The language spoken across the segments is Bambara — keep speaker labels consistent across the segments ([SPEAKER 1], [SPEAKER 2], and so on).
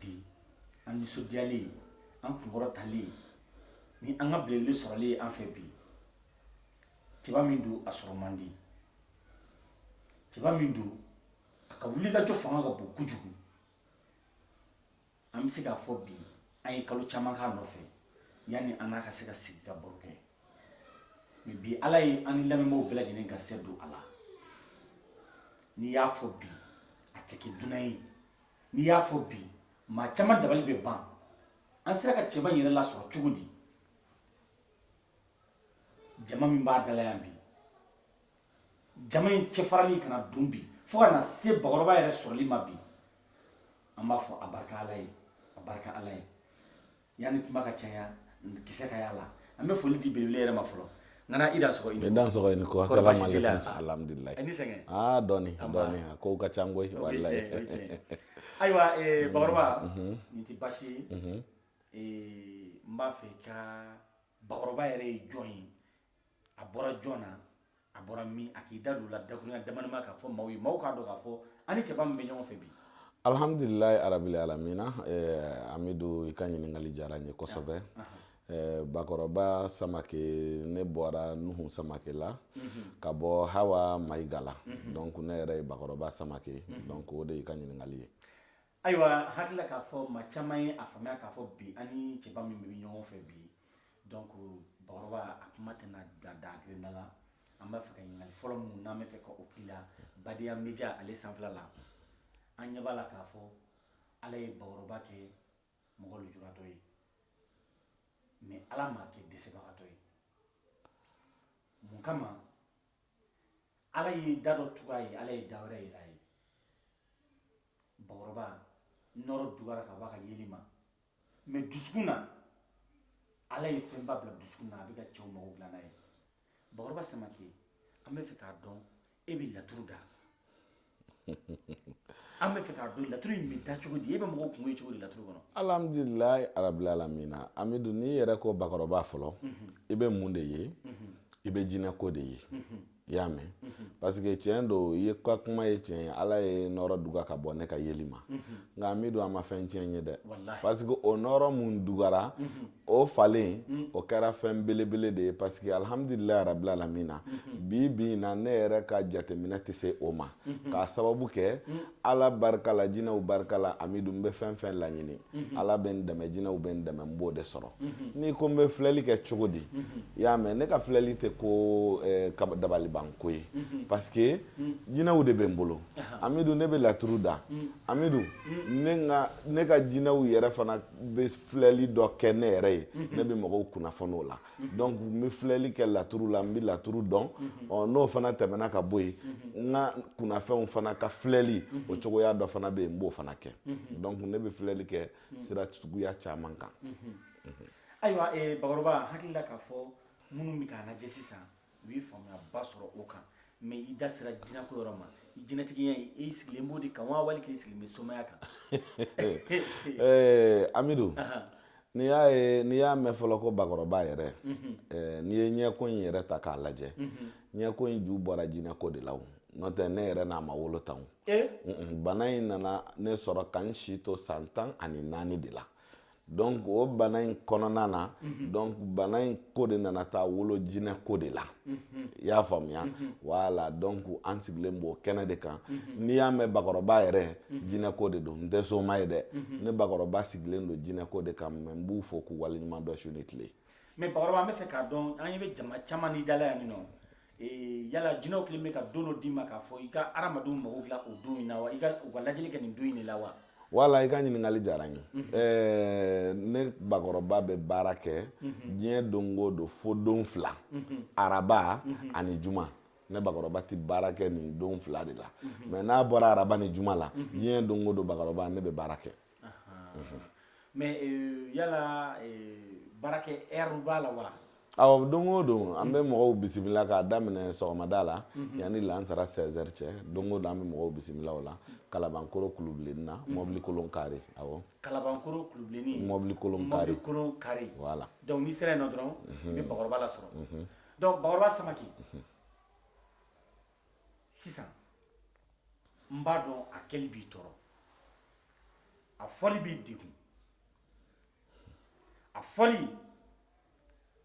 [SPEAKER 1] bi an nisɔndiyalen an kunkɔrɔtalen ni an ka belebele sɔrɔli ye an fɛ bi cɛba min don a sɔrɔ man di cɛba min don a ka wulikajɔ fanga ka bon kojugu an bɛ se k'a fɔ bi an ye kalo caman k'a nɔfɛ yanni an n'a ka se ka sigi ka baro kɛ mais bi ala ye an ni lamɛnbaaw bɛɛ lajɛlen garisɛgɛ don a la n'i y'a fɔ bi a tɛ kɛ dunan ye n'i y'a fɔ bi maa caman dabali bɛ ban an sera ka cɛba in yɛrɛ lasɔrɔ cogo di jama min b'a da la yan bi jama in cɛfarali ka na don bi fo ka na se bakɔrɔba yɛrɛ sɔrɔli ma bi an b'a fɔ a barika ala ye a barika ala ye yanni kuma ka caya kisɛ ka y'a la an bɛ foli di belebele yɛrɛ ma fɔlɔ n kana i dansɔgɔ i ni dansɔgɔ i ni ko asalamu aleykum alhamdulilayi i ni sɛgɛn aa dɔɔni dɔɔni a kow ka can koyi walayi ayiwa bakɔrɔba nin tɛ baasi ye n b'a fɛ i ka bakɔrɔba yɛrɛ ye jɔn ye a bɔra jɔn na a bɔra min a k'i da don la dakuruɲɛ damadama k'a fɔ maaw ye maaw k'a dɔn k'a fɔ an ni cɛba min bɛ ɲɔgɔn fɛ bi alhamdulilayi arabili alamina eh, amidu i ka ɲininkali diyara n ye kosɛbɛ eh, bakɔrɔba samake ne bɔra nuhu samake la mhm. ka bɔ hawa mayiga la mhm. donc ne yɛrɛ ye bakɔrɔba samake mhm. donc o de y'i ka ɲininkali ye ayiwa hakili la k'a fɔ maa caman ye a faamuya k'a fɔ bi an ni cɛba min bɛ ɲɔgɔn fɛ bi donc bakɔrɔba a kuma tɛna da dan kelen da la an b'a fɛ ka ɲininkali fɔlɔ minnu n'an b'a fɛ ka o k'i la badenya media ale sanfɛla la an ɲɛ b'a la k'a fɔ ala ye bakɔrɔba kɛ mɔgɔ lujuratɔ ye mais ala m'a kɛ dɛsɛbagatɔ ye mun kama ala ye da dɔ tugu a ye ala ye da wɛrɛ yɛlɛ a ye bakɔrɔba nɔɔrɔ dugara ka bɔ a ka yeli ma mais dusukun na ala ye fɛnba bila dusukun na a bɛ ka cɛw mago dilan n'a ye bakɔrɔba samake an b'a fɛ k'a dɔn e bɛ laturu da an b'a fɛ k'a dɔn laturu in bɛ da cogo di e bɛ mɔgɔw kunko ye cogo di laturu kɔnɔ alhamdulilayi arabilalamina amidu n'i yɛrɛ ko bakɔrɔba fɔlɔ mhm. i bɛ mun de ye mhm. i bɛ jinɛko de ye mhm. i y'a mɛn parce que tiɲɛ don e ka kuma ye tiɲɛ ye ala ye nɔɔrɔ duga ka bɔ ne ka yeli ma nka min don a ma fɛn tiɲɛ n ye dɛ parce que o nɔɔrɔ min dugara o falen o kɛra fɛn belebele de ye parce que alhamdulilayi arabili alamina bi bi in na ne yɛrɛ ka jateminɛ tɛ se o ma Mhm. k'a sababu kɛ mhm. ala barika la jinɛw barika la amidu n bɛ fɛn fɛn laɲini mhm. ala bɛ n dɛmɛ jinɛw bɛ n dɛmɛ n b'o de sɔrɔ n'i ko n bɛ filɛli kɛ cogo di i y'a mɛn ne ka filɛli tɛ ko eh, dabalibanko ye parce que jinɛw de bɛ n bolo amidu ne bɛ laturu da amidu ne ka jinɛw yɛrɛ fana bɛ filɛli dɔ kɛ ne yɛrɛ ye ne bɛ mɔgɔw kunnafoni o la Mhm. donc n bɛ filɛli kɛ laturu la n bɛ laturu dɔn mhm. ɔ n'o fana tɛmɛna ka bɔ yen mhm. n ka kunnafɛnw fana ka filɛli o cogoya dɔ fana bɛ yen n b'o fana kɛ donc ne bɛ filɛli kɛ sira suguya caman kan. ayiwa ee bakɔrɔba hakili la k'a fɔ minnu bɛ k'a lajɛ sisan u ye faamuyaba sɔrɔ o kan mais i da sera jinɛko yɔrɔ ma i jinɛtigiya e sigilen b'o de kan wa wali k'i sigilen bɛ somaya kan amidu n'i y'a ye n'i y'a mɛn fɔlɔ ko bakɔrɔba yɛrɛ mhm. n'i ye ɲɛko in yɛrɛ ta k'a lajɛ mhm. ɲɛko in ju bɔra jinɛko de la o n'o tɛ ne yɛrɛ n'a ma wolo tan bana in nana ne sɔrɔ ka n si to san tan ani naani de la donc o bana in kɔnɔna na mhm. donc bana in ko de nana taa wolo jinɛ ko de la mhm. i y'a faamuya mhm. voilà donc an sigilen b'o kɛnɛ de kan n'i y'a mɛn bakɔrɔba yɛrɛ jinɛ ko de don n tɛ soma ye dɛ ne bakɔrɔba sigilen don jinɛ ko de kan mais n b'u fo k'u waleɲuman dɔn su ni tile mais bakɔrɔba an b'a fɛ k'a dɔn an ɲɛ bɛ jama caman n'i da la yan nɔ Ee yala jinɛw kelen bɛ ka don dɔ d'i ma k'a fɔ i ka hadamadenw mago dilan o don in na wa i ka u ka lajɛli kɛ nin don in de la wa voilà i ka ɲininkali diyara n ye ɛɛ ne bakɔrɔba bɛ baara kɛ diɲɛ don o don fo don fila araba ani juma ne bakɔrɔba tɛ baara kɛ nin don fila de la mais n'a bɔra araba ni juma la diɲɛ don o don bakɔrɔba ne bɛ baara kɛ mais euh, yala euh, baarakɛ heure b'a la wa awɔ don o don an bɛ mɔgɔw bisimila k'a daminɛ sɔgɔmada la mhm. yanni lansara 16 heures cɛ don o don an bɛ mɔgɔw bisimila o la kalabankoro kulubilenni na mhm. mɔbili kolon carré awɔ kalabankoro kulubilenni mɔbili kolon carré mɔbili kolon carré voilà donc n'i sera yen nɔ dɔrɔn mhm. i bɛ bakɔrɔba lasɔrɔ donc bakɔrɔba samake sisan n b'a dɔn a kɛli b'i tɔɔrɔ a fɔli b'i degun a fɔli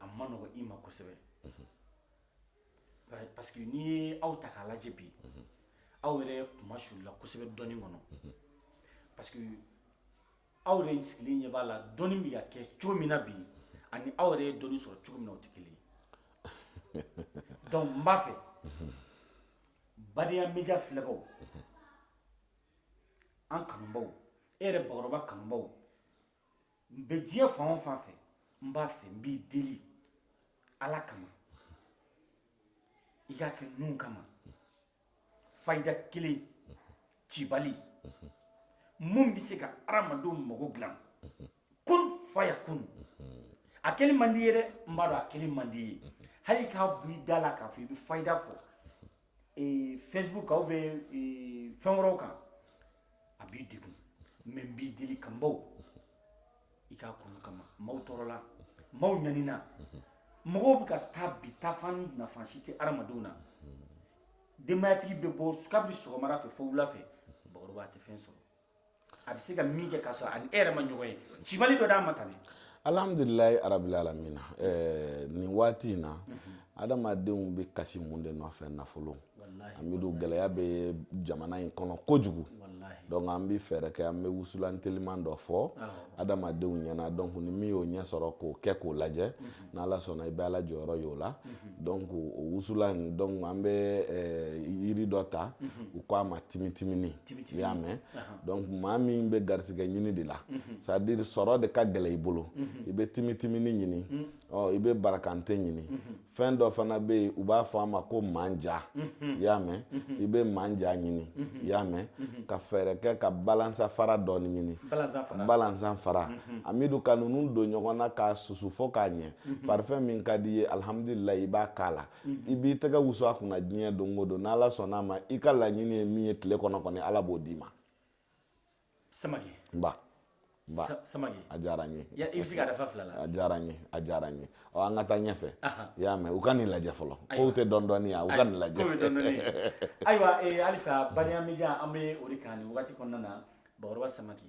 [SPEAKER 1] a man nɔgɔ i ma kosɛbɛ parce que n'i ye aw ta k'a lajɛ bi aw yɛrɛ kunmasuulila kosɛbɛ dɔnni kɔnɔ parce que aw yɛrɛ sigilen ɲɛ b'a la dɔnni bɛ ka kɛ cogo min na bi ani aw yɛrɛ ye dɔnni sɔrɔ cogo min na o tɛ kelen ye donc n b'a fɛ badenya media filɛbaaw an kanubaaw e yɛrɛ bakɔrɔba kanubaaw n bɛ diɲɛ fan o fan fɛ n b'a fɛ n b'i deli ala kama i k'a kɛ ninnu kama fayida kelen cibali min bɛ se ka adamadenw mago dilan kun faya kun a kɛli man d'i ye dɛ n b'a dɔn a kɛli man d'i ye hali k'a bɔ i da la k'a fɔ i bɛ fayida fɔ eh, facebook kan ou bien eh, fɛn wɛrɛw kan a b'i degun mais n b'i deli kanbaw i k'a kɛ ala kama maaw tɔɔrɔla maaw ɲanina mɔgɔw bɛ ka taa bi taafan nafan si tɛ adamadenw na denbayatigi bɛ bɔ kabini sɔgɔmada fɛ fo wula fɛ bakɔrɔba tɛ fɛn sɔrɔ a bɛ se ka min kɛ ka sɔrɔ ani e yɛrɛ ma ɲɔgɔn ye cibali dɔ d'a ma tan dɛ alhamdulilayi arabil alamina ɛɛ nin waati in na adamadenw bɛ kasi mun de nɔfɛ nafolo amidu gɛlɛya bɛ jamana in kɔnɔ kojugu donc an bɛ fɛɛrɛ kɛ an bɛ wusulan teliman dɔ fɔ adamadenw ɲɛna donc ni min y'o ɲɛ sɔrɔ k'o kɛ k'o lajɛ mhm. n'ala sɔnna i bɛ ala jɔyɔrɔ y'o la mhm. donc o wusulan in donc an bɛ eh, yiri dɔ ta mhm. u ko a ma timitimini i y'a mɛn donc maa min bɛ garisigɛ ɲini de la c'est à dire sɔrɔ de ka gɛlɛn i bolo i bɛ timitimini ɲini ɔ i bɛ barakante ɲini fɛn dɔ fana bɛ yen u b'a fɔ a ma ko manja mhm. i y'a mɛn mhm. i bɛ manja ɲini mhm. i y'a mɛn ka fɛɛrɛ kɛ ka balansan fara dɔɔni ɲini balansan fara amidu ka ninnu don ɲɔgɔn na k'a susu fo k'a ɲɛ parifɛn min ka di i ye alihamudulilayi i b'a k'a la i b'i tɛgɛ wusu a kunna diɲɛ don o don n'ala sɔnn'a ma i ka laɲini ye min ye tile kɔnɔ kɔni ala b'o d'i ma samake nba nba Sa- samake a diyara n ye Ya- i bɛ se ka dafa fila la a diyara n ye a diyara n ye ɔ an ka taa ɲɛfɛ Aha. i y'a mɛn u ka nin lajɛ fɔlɔ kow tɛ dɔndɔni yan u ka nin lajɛ Ko bɛ dɔɔnin dɔɔnin. ayiwa eh, halisa baliya media an bɛ o de kan nin wagati kɔnɔna na bakɔrɔba samake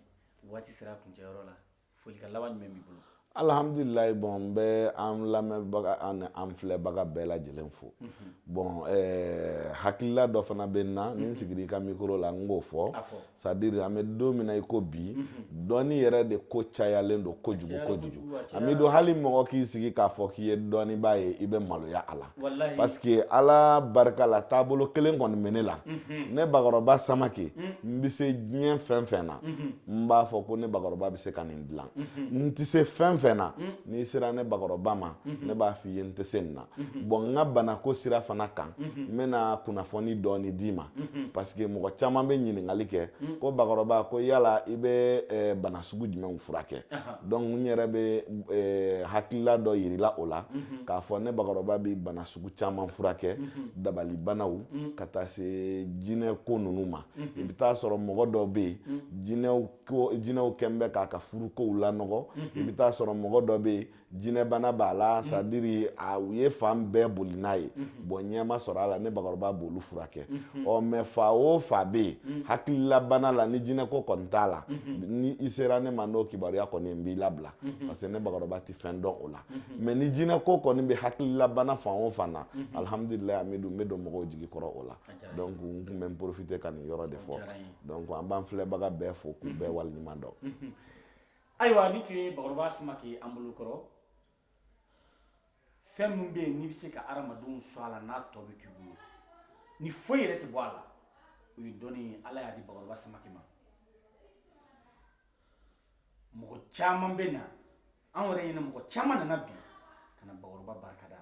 [SPEAKER 1] waati sera a kuncɛyɔrɔ la folikan laban jumɛn b'i bolo alhamdulilayi bon n bɛ an lamɛnbaga n'an filɛbaga bɛɛ lajɛlen fo mhm. bon eh, hakilila dɔ fana bɛ n na ni n mhm. sigira i ka mikoro la n k'o fɔ c'est à dire an bɛ don min na i ko bi mhm. dɔnni yɛrɛ de ko cayalen don kojugu kojugu an bɛ don hali mɔgɔ k'i sigi k'a fɔ k'i ye dɔnnibaa ye i bɛ maloya a la parce que ala barika la taabolo kelen kɔni bɛ ne la ne bakɔrɔba samake n bɛ se diɲɛ fɛn fɛn na n b'a fɔ ko ne bakɔrɔba bɛ se ka nin dilan n tɛ se fɛn fɛn na n'i sera ne bakɔrɔba ma ne b'a f'i ye n tɛ se nin na bon n ka banako sira fana kan n bɛna kunnafoni dɔɔni d'i ma parce que mɔgɔ caman bɛ ɲininkali kɛ ko bakɔrɔba ko yala i bɛ bana sugu jumɛnw furakɛ donc n yɛrɛ bɛ eh, hakilila dɔ yirila o la mhm. k'a fɔ ne bakɔrɔba bɛ bana sugu caman furakɛ mhm. dabalibanaw mhm. ka taa se jinɛ ko ninnu ma i bɛ taa sɔrɔ mɔgɔ dɔw bɛ yen jinɛw ko jinɛw kɔni bɛ k'a ka furu kow lanɔgɔ i bɛ taa sɔrɔ mɔgɔ dɔ bɛ yen jinɛbana b'a la c'est à dire a u ye fan bɛɛ boli n'a ye bɔn ɲɛma sɔrɔ a la ne bakɔrɔba b'olu furakɛ ɔ mɛ fa o fa bɛ yen hakililabana la ni jinɛko kɔni t'a la ni i sera ne ma n'o kibaruya kɔni n b'i labila parce que ne bakɔrɔba tɛ fɛn dɔn o la mɛ ni jinɛko kɔni bɛ hakililabana fan o fan na alihamudulila an bɛ don n bɛ don mɔgɔw jigi kɔrɔ o la donc n tun bɛ n porofite ka nin yɔrɔ de fɔ donc an b'an filɛbaga bɛɛ fo k'u bɛɛ waleɲuman dɔn ayiwa nin tun ye bakɔrɔba samake y'an bolo kɔrɔ fɛn min bɛ yen n'i bɛ se ka adamadenw sɔn a la n'a tɔ bɛ t'i bolo ni foyi yɛrɛ tɛ bɔ a la o ye dɔnni ye ala y'a di bakɔrɔba samake ma mɔgɔ caman bɛ na an yɛrɛ ɲɛna mɔgɔ caman nana bi ka na bakɔrɔba barika da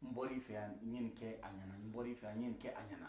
[SPEAKER 1] n bɔr'i fɛ yan n ye nin kɛ a ɲɛna n bɔr'i fɛ yan n ye nin kɛ a ɲɛna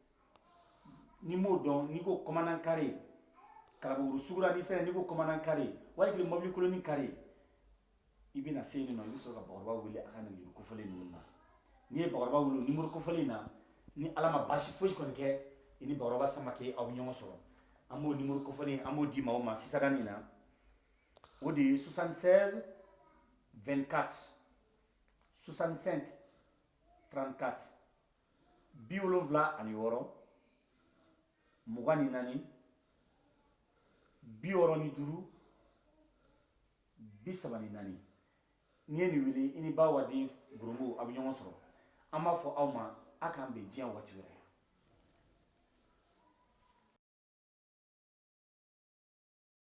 [SPEAKER 1] n'i m'o dɔn n'i ko kɔmanan kare kalabankɔrɔ sugu ra n'i sera n'i ko kɔmanan kare wali kelen mɔbili koloni kare i bɛna se yen nɔ i bɛ sɔrɔ ka bakɔrɔba wele a ka nimoro kofɔlen ninnu na n'i ye bakɔrɔba wele o nimoro kofɔlen na ni ala ma baasi fosi kɔni kɛ i ni bakɔrɔba samake aw bɛ ɲɔgɔn sɔrɔ an b'o nimoro kofɔlen an b'o di maaw ma sisan nin na o de ye 76 24 65 34 bi wolonfila ani wɔɔrɔ mugan ni naani bi wɔɔrɔ ni duuru bi saba ni naani n'i ye nin wele i ni ba waden gorobo a bɛ ɲɔgɔn sɔrɔ an b'a fɔ aw ma a k'an bɛn diɲɛ waati wɛrɛ